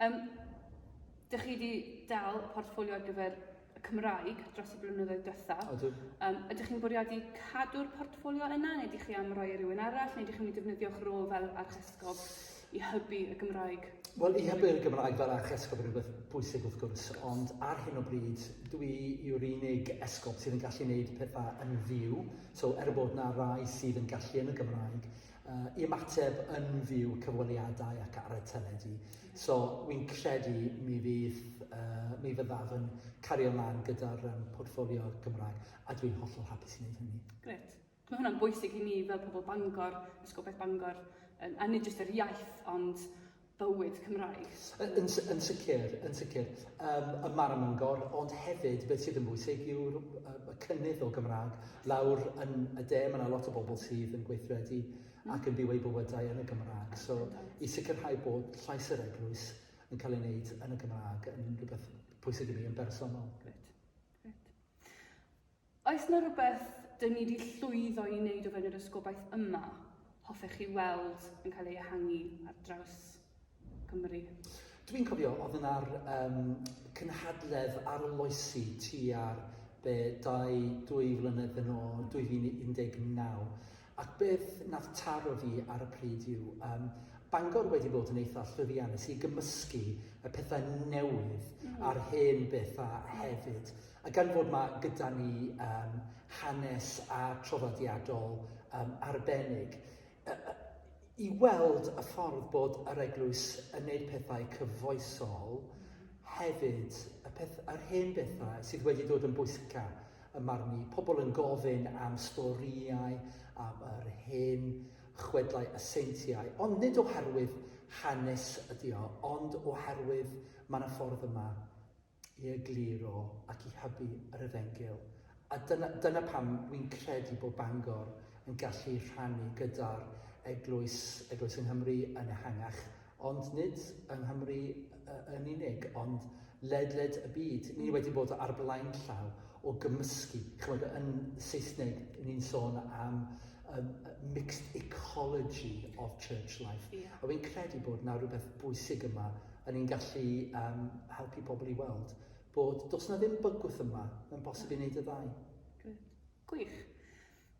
Yym, dych chi wedi dal y portffolio ar gyfer y Cymraeg dros y blynyddoedd dytha. Ydw. Um, ydych chi'n bwriadu cadw'r portffolio yna, neu ydych chi am roi i e rhywun arall, neu ydych chi'n mynd i defnyddio'ch rôl fel archesgob i hybu y Gymraeg? Wel, i hybu'r Gymraeg fel archesgob yn rhywbeth bwysig wrth gwrs, ond ar hyn o bryd, dwi yw'r unig esgob sydd yn gallu gwneud pethau yn fyw. So, er bod na rai sydd yn gallu yn y Gymraeg, i ymateb yn fyw cyfweliadau ac ar y teledu. So wi'n credu mi fydd, uh, mi fyddaf yn cario ymlaen gyda'r um, portfolio Gymraeg a dwi'n hollol hapus i wneud hynny. Gret. Mae hwnna'n bwysig i ni fel pobl Bangor, Ysgol Beth Bangor, um, a nid jyst yr iaith, ond bywyd Cymraeg. Yn, yn sicr, yn sicr. Um, y mar yn Mangor, ond hefyd, beth sydd yn bwysig yw'r y cynnydd o Gymraeg. Lawr yn y de, mae yna lot o bobl sydd yn gweithredu mm. ac yn byw eu bywydau yn y Gymraeg. So, i sicrhau bod llais yr eglwys yn cael ei wneud yn y Gymraeg yn rhywbeth pwysig i mi yn bersonol. Gret. Gret. Oes 'na rywbeth dyn ni 'di llwyddo i wneud o fewn yr ysgobaeth yma hoffech chi weld yn cael ei ehangu ar draws Cymru? Dwi'n cofio, oedd yna'r um, cynhadledd arloesi tua'r be, dau, dwy flynedd yn ôl, 2019, Ac beth nath taro fi ar y pryd yw, yym, Bangor wedi bod yn eitha llwyddiannus i gymysgu y pethau newydd a'r hen bethau hefyd. A gan fod ma' gyda ni yym hanes a traddodiadol yym arbennig, yy yy i weld y ffordd bod yr eglwys yn neud pethau cyfoesol hefyd, y peth- yr hen bethau sydd wedi dod yn bwysica, Ym marn i, pobl yn gofyn am storïau am yr hen chwedlau a seintiau, ond nid oherwydd hanes ydy o, ond oherwydd mae yna ffordd yma i egluro ac i hybu yr Efengyl. A dyna, dyna pam wi'n credu bod Bangor yn gallu rhannu gyda'r eglwys, eglwys yng Nghymru yn ehangach Ond nid yng Nghymru yn unig, ond ledled y byd. Ni wedi bod ar blaen llaw o gymysgu. Chymod, yn Saesneg, ni'n sôn am um, mixed ecology of church life. Yeah. A wy'n credu bod na rhywbeth bwysig yma, a ni'n gallu um, helpu pobl i weld bod dos na ddim bygwth yma, mae'n bosib i wneud y ddau. Gwych.